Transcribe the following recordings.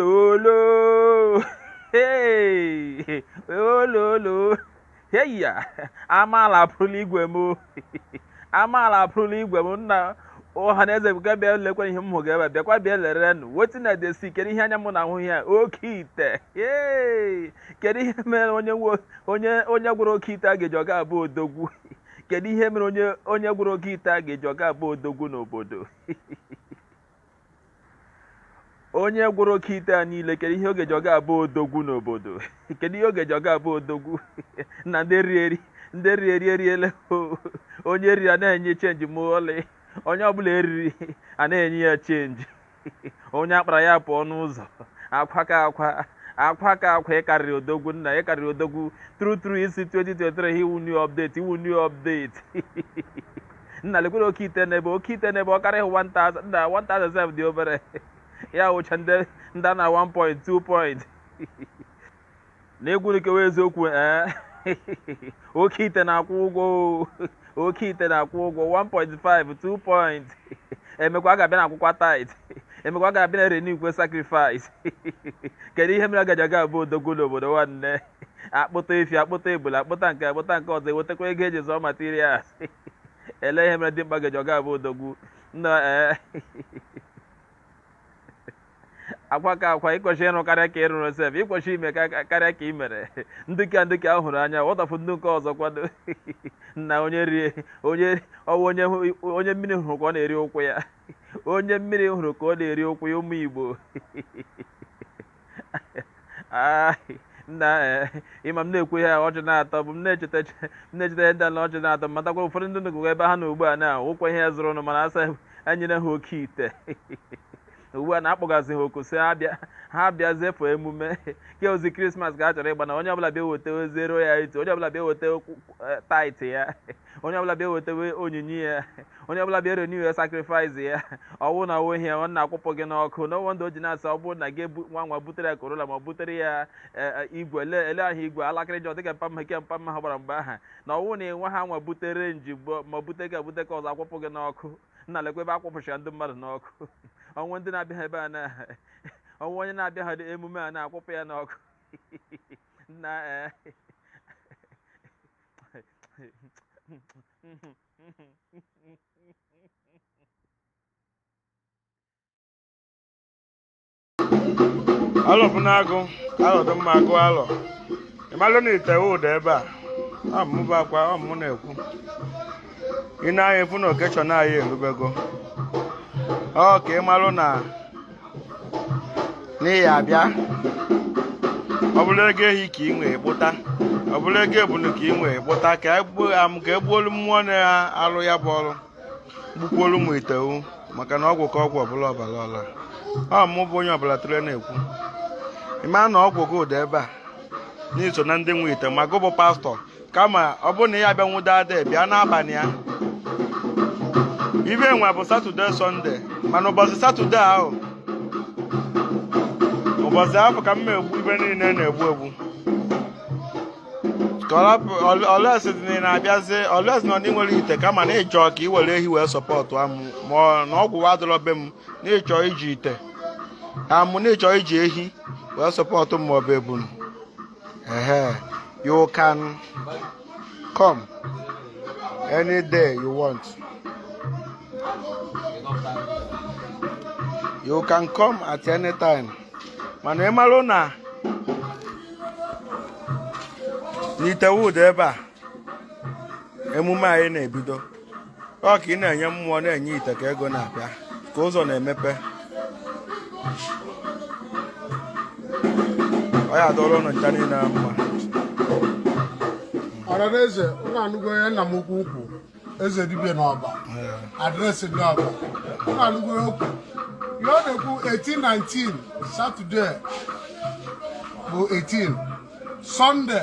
olololo hey ololo hey ya amaala apụrụla igwe m amaala apụrụla igwe m nna ọha na eze bịa bịa lekwa ihe m hụga ebe a bịakwa bịa lere nụ wetin I dey see kedu ihe anya m na ahụ ya oke ite hey kedu ihe mere onye nwe- onye onye gwọrọ oke ite a ga-eji ọga abụ odogwu kedu ihe mere onye onye gwọrọ oke ite a ga-eji ọga abụ odogwu n'obodo onye gwọrọ oke ite a niile kedu ihe ọ ga-eji ọ ga-abụ odogwu n'obodo kedu ihe ọ ga-eji ọ ga-abụ odogwu na ndị ri eri ndị ri eri eriele o. onye eriri a na-enye chenji ma ọlị onye ọbụla eriri a na-enye ya chenji onye akpara ya pụọ n'ụzọ akwa ka akwa akwa ka akwa ịkarịrị odogwu nna ịkarịrị odogwu true true isi 2023 ị wụ new update ị wụ new update Nna lekwere oke ite n'ebe oke ite n'ebe ọ karịghị 1000 nna 1000 sef dị obere ya wụcha ndị ndị a na 1 point 2 point na egwu nkewa eziokwu ee oke ite na-akwụ ụgwọ o. oke ite na-akwụ ụgwọ 1.5 2 point emekwa a ga-abịa na akwụkwa tithe emekwa a ga-abịa na erenewkwa sacrifice kedu ihe mere a ga-eji aga abụ odogwu n'obodo nwanne akpụta efi akpụta ebule akpụta nke akpụta nke ọzọ ewetakwa ego eji zụọ materials ele ihe mere dimkpa ga-eji ọ ga-abụ odogwu nna ee akwa ka akwa ịkwesị ịrụ karịa ka ịrụrụ sef ịkwesị ime ka- karịa ka ị mere ndị ka ndị ka a hụrụ anya what of ndị nke ọzọ kwado na onye rie onye ọwụ onye hụ- onye mmiri hụrụ ka ọ na-eri ụkwụ ya onye mmiri hụrụ ka ọ na-eri ụkwụ ya ụmụ igbo nna eh, ịma m na-ekwu ihe ọchị na-atọgbu m na-echeta ihe ndị na ọchị na-atọ matakwa ụfọdụ ndị nụgụgụ ebe ha nọ ugbu a na ụkwa ihe ya zụrụ ụnụ mana asa enyere ha oke ite ugbu a na-akpọgazi ha oku sị ha bịa zefụ emume ke ozi krismas ka a chọrọ ịgba na onye ọbụla bịa weta ozi ero ya itu onye ọbụla bịa weta eh, tithe ya onye ọbụla bịa weta onyinye ya onye ọbụla bịa renew sacrifice ya ọwụ na ọwụ ihe ọ na-akwụpụ gị n'ọkụ no wonder o ji na-asị ọ bụrụ na gị ebu- nwa nwa butere ya Corolla ma ọ butere ya eh, eh, igwe ele ele ahụ igwe alakịrịja dịka mpa mmeke mpa mma ha gbara mgbe ahụ na ọwụ na nwa ha nwa butere jeep ma ọ bute car bute car ọzọ akwụpụ gị n'ọkụ nna lekwa ebe akwụpụchara ndị mmadụ n'ọkụ ọwụ ndị na-abịa ha ebe a na ọwụ onye na-abịa ha emume a na-akwụpụ ya n'ọkụ na eh, alọ bụ na-agụ alọ dị mma agụ alọ ịmalụ na ite ụda ebe a ọ mụ bụ akwa ọ mụ na-ekwu ị na-anya efu na occasion anyị erubego ọ ka ị marụ na na ị ya-abịa ọ bụrụ ego ehi ka ị nwee kpụta ọ bụrụ ego ebunu ka ị nwee kpụta ka egbuolu mmụọ na-alụ ya bụ ọrụ gbukwuolu m ite ahụ maka na ọgwụ ka ọgwụ ọbụla ọbara ọla ọ mụ bụ onye ọbụla tụrụ na-ekwu ị ma na ọgwụ gị dị ebe a na i so na ndị nwe ite ma gị bụ pastọ kama ọ bụrụ na ị ya-abịa nwụdo ada bịa n'abalị ya ife nwa bụ Satọde Sọnde mana ụbọchị Satọde ahụ ụbọchị ahụ ka m egbu ife niile na-egbu egbu unless ị na-abịazi unless na i nwere ite kama na ị chọ ka ị were ehi wee sọpọtụ mụ mana ọgwụ adọrọ be m na ị chọ iji ite amụ na ị chọ iji ehi wee sọpọtụ m maọbụ ebunu Uh-huh. You can come any day you want. You can come at any time. Mana ị marụ na n'Itewood ebe a emume anyị na-ebido ọ ka ị na-enye mmụọ na-enye ite ka ego na-abịa ka ụzọ na-emepe ọ ya-adọrọ ụnụ ncha niile na mma ọranaeze ụnụ anụgo ya nna m ukwu ukwu eze dibịa n'Ọba adreesị dị Ọba ụnụ anụgo ya okwu ihe ọ na-ekwu 18 19 Satọde bụ 18 Sọnde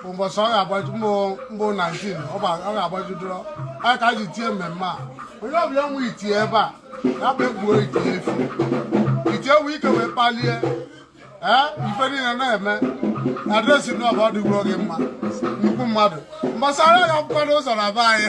ụbọchị ọ ga-agbaju mbụ mbụ 19 ọ gba- ọ ga-agbajudoro a ka a ji tie mmemme a onye ọbụla nwe ite ebe a ya bịa egbuo ite efi ite ewu ike wee kpalie ee ife niile na-eme adreesị na Ọba ọ dịgoro gị mma nnukwu mmadụ mgbasara ya akwụkwọ n'ụzọ na be anyị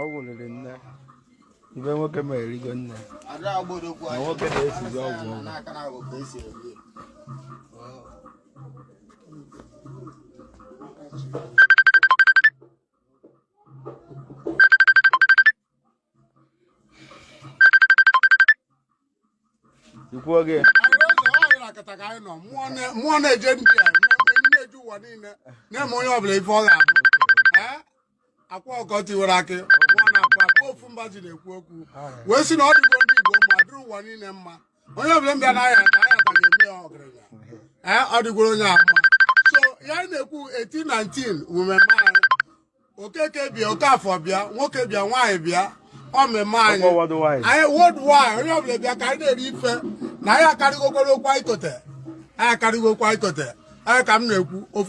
ọgwụ riri nne ibe nwoke ma erigo nne na nwoke na-esizi ọgwụ ikwuo gị mmụọ na-eje ndị a na-eji ụwa niile na-eme onye ọbụla ife ọ ga-abụ Akwa Ọkụkọ Tiwara Akị mmụọ na-akwa akwa ofu mba ji na-ekwu okwu wee sị na ọ dịgo ndị Igbo mma dịrị ụwa niile mma onye ọbụla bịa na ahịa ka ahịa ka ga-eme ya ọgaranya ọ dịgoro onye a mma so ya na-ekwu 18 19 mmemme Okeke bịa Okafọ bịa nwoke bịa nwaanyị bịa ọ mmemme anyị anyị worldwide onye ọbụla bịa ka anyị na-eri ife na anyị akarịgokwara okwu anyị kote anyị akarịgo okwu anyị kote anyị ka m na-ekwu ofu